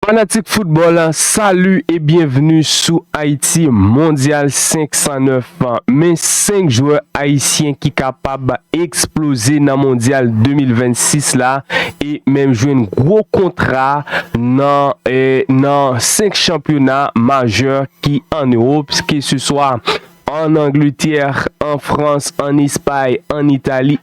Fanatik football, salut et bienvenue sou Haïti Mondial 509. Men 5 jwè ayisyen ki kapab eksploze nan Mondial 2026 la e menm jwenn gwo kontra nan 5 chanpyona majè ki an Europe, ke se swa an Angleterre, an France, an Espagne, an Italie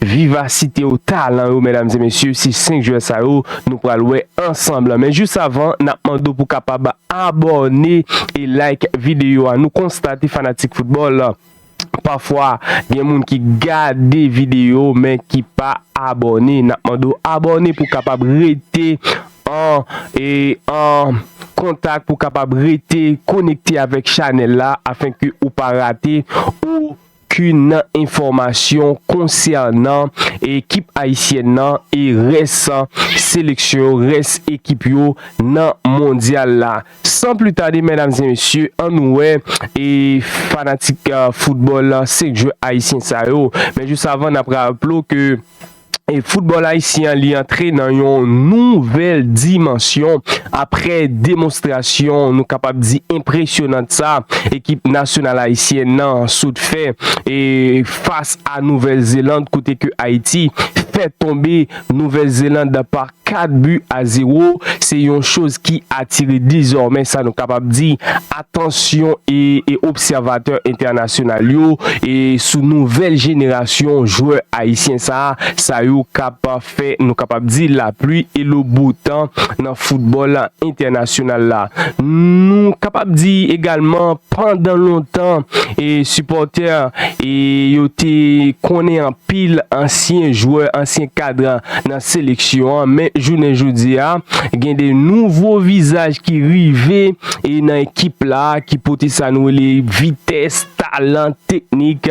Vivasite yo, talan yo medam e mesye se 5 jwè sa yo nou pral wè ansanm lan men jis avan nap mande w pou kapab abòne e like videyo a nou konstate fanatik foutbòl pafwa gen moun ki gade videyo men ki pa abòne nap mande w abòne pou kapab rete an e an kontak pou kapab rete konekte avèk chanèl la afenke ou pa rate ou Kin enfòmasyon konsènan ekip ayisyèn nan e rès seleksyon yo, rès ekip yo nan mondyal la. San pli tade medam e mesye an nou wè e fanatik foutbòl 5 jwè ayisyen sa yo. Men jis avan nap raplo ke. E football Ayisyen an li antre nan yon nouvèl dimansyon apre demonstrasyon nou kapab di enpresyonant sa ekip nasyonal Ayisyen nan sot fè e fas a Nouvèl Zeland kote ke Ayiti fè tonbe Nouvèl Zeland pa 4 bi a 0 se yon choz ki atire dezòmè sa nou kapab di atansyon e obsèvatè entènasyonal yo e sou nouvèl jenerasyon jwè ayisyen sa sa yo kap fè nou kapab di la pli e lo bo tan nan foutbòl entènasyonal la. Nou kapab di egalman pandan lontan e sipòtè e yo te konnen anpil. pil ansyen jwè, ansyen kadran nan seleksyon an, men jounen jodi a, gen de nouvo vizaj ki rive e nan ekip la, ki pote sa nou rele vitès, talan, teknik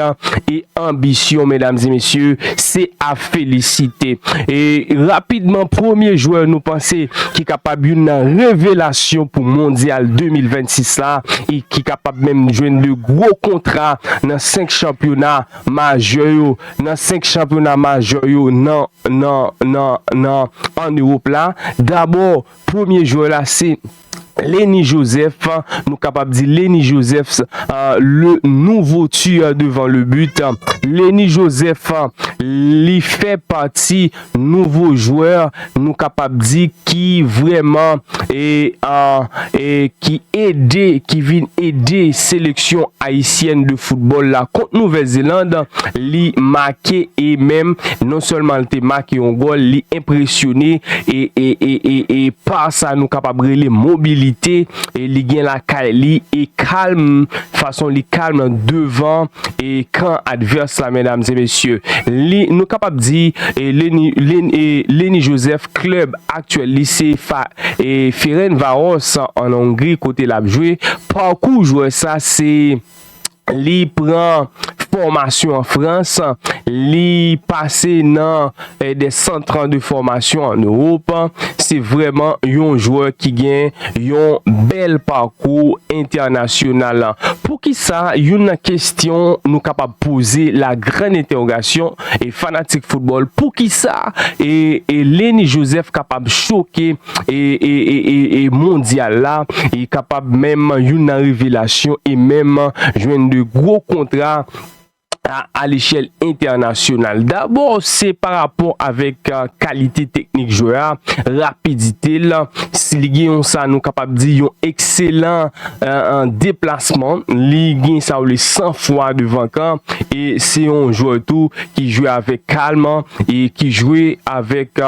e anbisyon, medam e mesye, se a felisite. E rapidman, premye jwè nou panse ki kapab youn nan revelasyon pou mondyal 2026 la e ki kapab menm jwenn de gwo kontra nan 5 chanpyona, majè yo nan 5 chanpyona majè yo nan nan nan nan an Ewop la. Dabò premye jwè la se Lenny Joseph, nou kapab di Lenny Josephs le nouvo tueur devant le but. Lenny Joseph li fè pati. nouvo jwè nou kapab di ki vrèman ki ede ki vin ede seleksyon ayisyèn de foutbòl la kont Nouvèl Zeland li make e menm non sèlman li te make yon gòl li enpresyone e pa sa nou kapab rele mobilite li gen lakay li e kalm Fason li kalm lan devan e kan advès la medam e mesye. Li nou kapab di e Leni Leni e Leni Joseph klèb aktyèl li se fa e Ferencvaros an Hongri kote lap jwe. Pakou jwè sa se li pran fòmasyon an Frans, li pase nan. de centre an de formation en Europe se vreman yon jwè ki gen yon bèl parkou entènasyonal poukisa youn nan kestyon nou kapab poze la grann entèwogasyon e fanatik football poukisa e Leny Joseph kapab choke e mondyal la e kapab menm youn nan revelasyon e menm jwenn de gwo kontra a lechèl entènasyonal. Dabò, se pa rapò avèk kalite teknik jwè a, rapidite l, si li gen yon sa nou kapab di yon ekselan deplasman, li gen sa yo rele san fwa devan kan e se yon jwè tou ki jwe avèk kalm e ki jwe avèk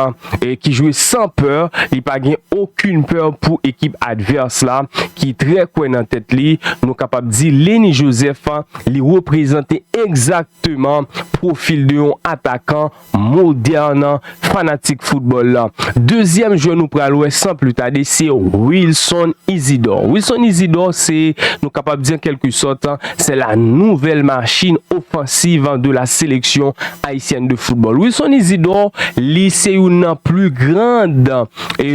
ki jwe san pè, li pa gen okin pè pou ekip advès la ki trè kwè nan tèt li, nou kapab di Lenny Joseph li reprezante egzakteman pwofil de yon atakan modèn fanatik foutbòl la. Dezyèm jwè nou pral wè san pli tade se Wilson Isidore. Wilson Isidore se nou kapab di an kèlke sòt se la nouvèl machin ofansiv de la seleksyon. Haïtienne de football. Wilson Isidor li se youn nan plus grand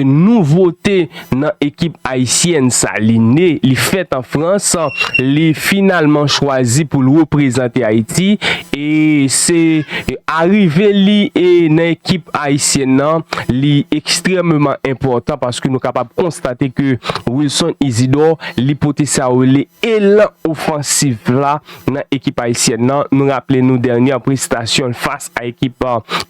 nouvote nan ekip Haïtienne sa. Li ne, li fèt an Frans, li finalman chwazi pou l reprezante Haïti e se arive li nan ekip Haïtienne nan li ekstrememan enpòtan paske nou kapab konstate ke Wilson Isidor li pote sa yo rele elan ofansif la nan ekip ayisyèn nan, nou raple nou dènyè prestasyon l fas a ekip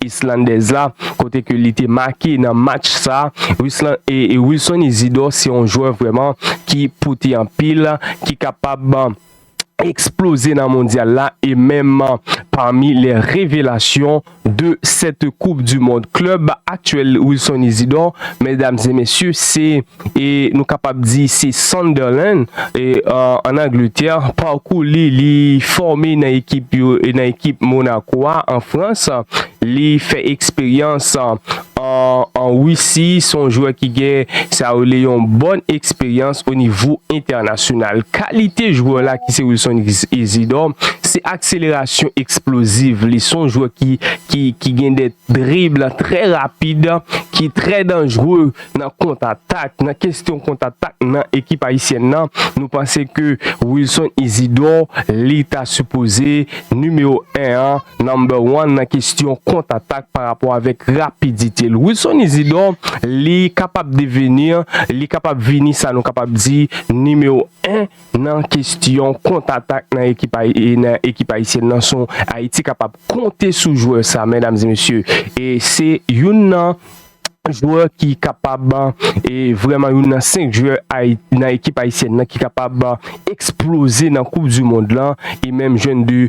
islandèz la kote ke li te make nan match sa, Wilson Isidor se yon jwè vrèman ki pote anpil, ki kapab eksploze nan mondyal la e menm pami lè revelasyon. de sèt koup du mond klub aktyèl Wilson Isidor mèdam e mesye se e nou kapab di se Sunderland e an Angletè parkou li li fòme nan ekip yo nan ekip Monaco a an Frans li fè eksperyans an Russi son jwè ki gen sa yo rele yon bòn eksperyans o nivo entènasyonal. Kalite jwè la ki se Wilson Isidor, se akselerasyon eksploziv li, son jwè ki gen de drib trè rapid, ki trè danjre nan kont atak, nan kestyon kont atak nan ekip ayisyèn nan, nou panse ke Wilson Isidor li ta sipoze nimewo 1 an. Number one nan kestyon kont atak pa rapò avèk rapidite l. Wilson Isidor li kapab devenir, li kapab vini sa nou kapab di nimewo 1 nan kestyon kont atak nan ekip nan ekip ayisyèn nan son Ayiti kapab konte sou jwè sa medam e mesye e se youn nan jwè ki kapab e vrèman youn nan 5 jwè Ayi nan ekip ayisyèn nan ki kapab eksploze nan koup dimond lan e menm jwenn 2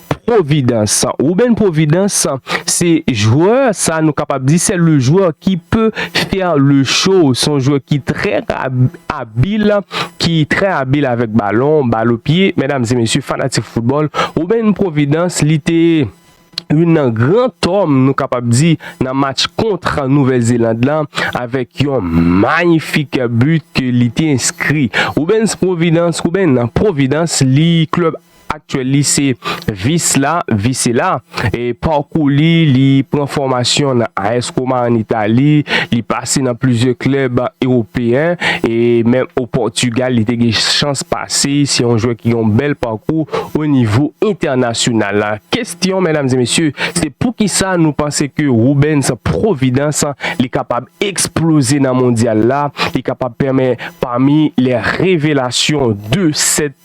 Providence. Ruben Providence se jwè sa nou kapab di se le jwè ki pe fè le cho. Se yon jwè ki trè abil, ki trè abil avèk balon, bal o pye. Medam e mesye fanatik foutbòl, Ruben Providence li te youn nan gran tòm nou kapab di nan match kontra Nouvèl Zeland lan avèk yon mayifik bit ke li te enskri. Ruben Providence, Ruben Providence li klèb aktyèl li se Vis la, Visela, pakou li, li pran fòmasyon nan AS Roma an Itali, li pase nan plizyè klèb ewopeyen e menm o Pòtigal li te gen chans pase, se yon jwè ki gen yon bèl pakou o nivo entènasyonal. Kestyon medam e mesye se poukisa nou panse ke Rubens Providence li kapab eksploze nan mondyal la, li kapab pèmè pami lè revelasyon de 7.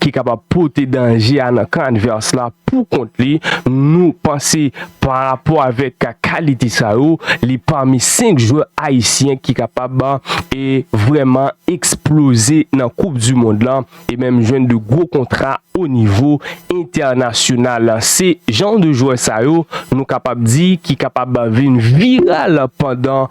ki kapab pote danje a nan kan advès la pou kont li, nou panse pa rapò avèk kalite sa yo, li pami 5 jwè ayisyen ki kapab e vrèman eksploze nan koup du mond la e menm jwenn de gwo kontra o nivo entènasyonal. Se jan de jwè sa yo nou kapab di ki kapab vin viral pandan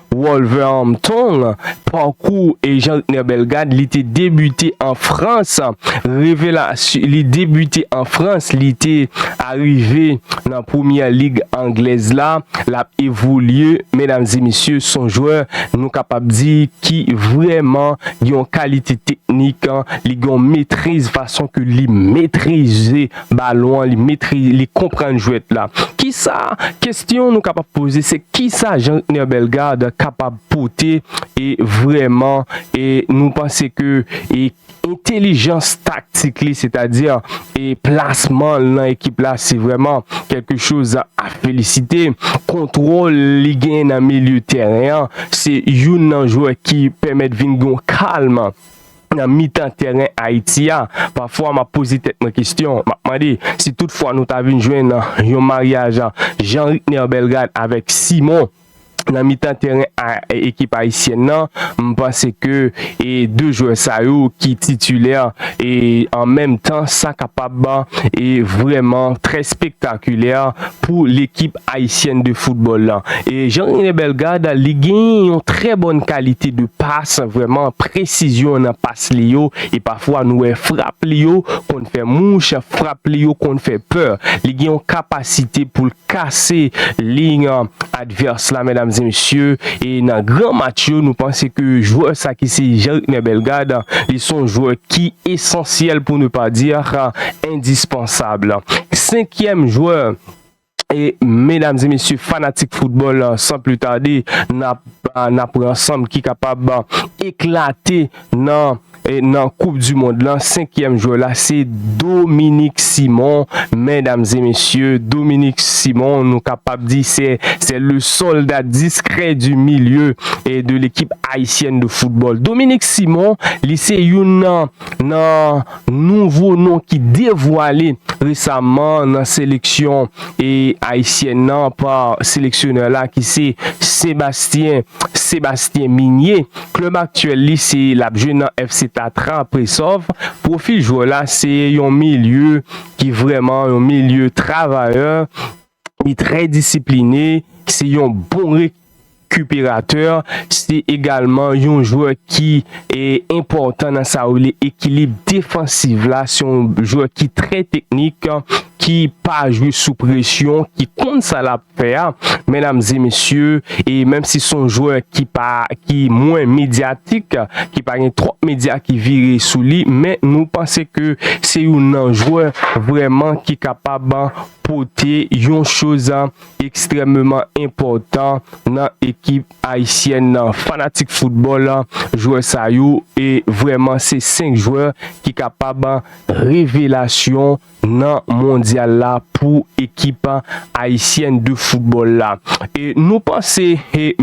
Wolverhampton, Pakou e Jean-Rtner Bellegarde li te debite an Frans, revelasyon li debite an Frans, li te arive nan Premyè Lig Anglèz la, l ap evolye, medam e mesye, s on jwè nou kapab di ki vrèman gen yon kalite teknik, li gen yon metriz fason ke li metrize balon an, li metri, li konprann jwèt la. Kisa, kesyon nou kapab poze se kisa Jean Rtner Bellegarde kapab pote e vrèman e nou panse ke e entelijans taktik li sètadi e plasman l nan ekip la se vrèman kèlke choz a felisite. Kontwòl li genyen nan milye tèren an se youn nan jwè ki pèmèt vin gon kalm. nan mitan tèren Ayiti a, pafwa m ap poze tèt mwen kesyon, m ap mande, si tout fwa nou ta vin jwenn yon maryaj Jean Ritner Bellegarde avèk Simon nan mitan tèren ekip ayisyèn nan, m panse ke 2 jwè sa yo ki titilè e an menm tan sa kapab vrèman trè spektakilè pou lekip Haïtienne de football lan. E Jean Rene Bellegarde li genyen yon trè bòn kalite de pas, vrèman presizyon nan pas li yo e pafwa nou wè frap li yo konn fè mouch, frap li yo konn fè pè. Li gen yon kapasite pou l kase liy advès la medam e mesye e nan gran match yo nou panse ke jwè sa ki se Jean Rene Bellegarde li son jwè ki esansyèl pou ne pas dire indispensable. Senkyèm jwè. E medam e mesye fanatik foutbòl san pli tade nap nap wè ansanm ki kapab eklate nan e nan koup di mond lan 5 kièm jwè la se Dominik Simon medam e mesye Dominik Simon nou kapab di se se le solda diskrè di milye e de lekip ayisyèn de foutbòl Dominik Simon li se youn nan nan Nouvo non ki devwale resaman nan seleksyon ayisyèn nan pa seleksyonè la ki se Sebastien Sébastien Migné, klub aktyèl li se l ap jwe nan FC Tatra Presov. Pwofil jwè la se yon milye ki vrèman yon milye travayè. Li trè disipline, se yon bon rekiperatè, se egalman yon jwè ki enpòtan nan sa yo rele ekilib defansiv la, se yon jwè ki trè teknik, ki pa jwe sou presyon, ki konn sa l ap fè a, mèdam e mesye, e menm si son jwè ki pa, ki mwen medyatik, ki pa gen twòp medya ki vire sou li, men nou panse ke se youn nan jwè vrèman ki kapab pote yon choz ekstrèmeman enpòtan nan ekip ayisyèn nan. Fanatik foutbòl, jwè sa yo vrèman se 5 jwè ki kapab revelasyon nan mondyal la pou ekip ayisyèn de foutbòl la. E nou panse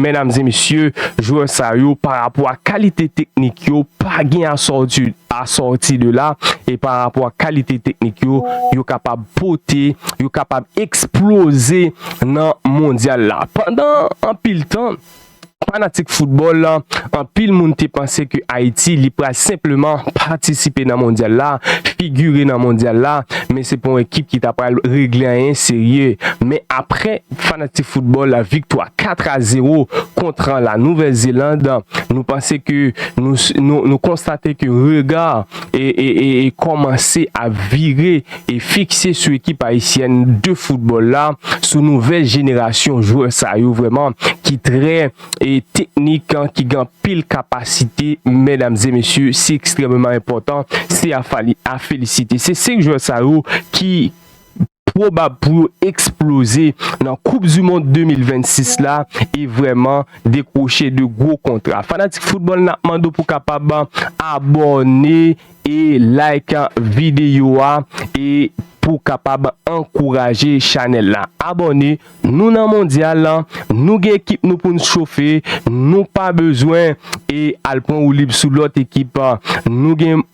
mèdam e mesye jwè sa yo pa rapò a kalite teknik yo pa gen asòti de la e pa rapò a kalite teknik yo yo kapab pote yo kapab eksploze nan Mondyal la. Pandan anpil tan, fanatik foutbòl, anpil moun te panse ke Ayiti li pral senpleman patisipe nan Mondyal la, figire nan Mondyal la, men se pa yon ekip ki ta pral regle anyen serye. Men aprè fanatik foutbòl viktwa 4 a 0 kontra la Nouvèl Zeland, nou panse ke nou konstate ke rega kòmanse ap vire e fikse sou ekip ayisyèn de foutbòl la, sou nouvèl jenerasyon jwè sa yo vrèman ki trè e teknik, ki gen anpil kapasite medam e mesye, se ekstrèmeman enpòtan, se a felisite. Se 5 jwè sa yo ki pwobab pou yo eksploze nan koup du mond 2026 la e vrèman dekwoche de gwo kontra. Fanatik foutbòl nap mande w pou kapab abòne e like video a e pou kapab ankouraje chanèl la abòne nou nan mondyal nou gen ekip nou poun chofe nou pa bezwen e al pran woulib sou lòt ekip nou gen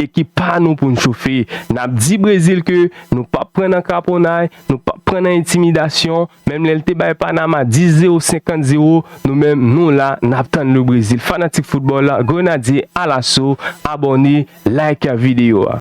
ekip pa nou poun chofe nap di brezil ke nou pap pran nan kraponay nou pap pran nan entimidasyon. Menm lè l te bay Panama 10 zewo 50 zewo nou menm nou la nap tann le Brésil fanatik football grenadye alaso abòne like video a.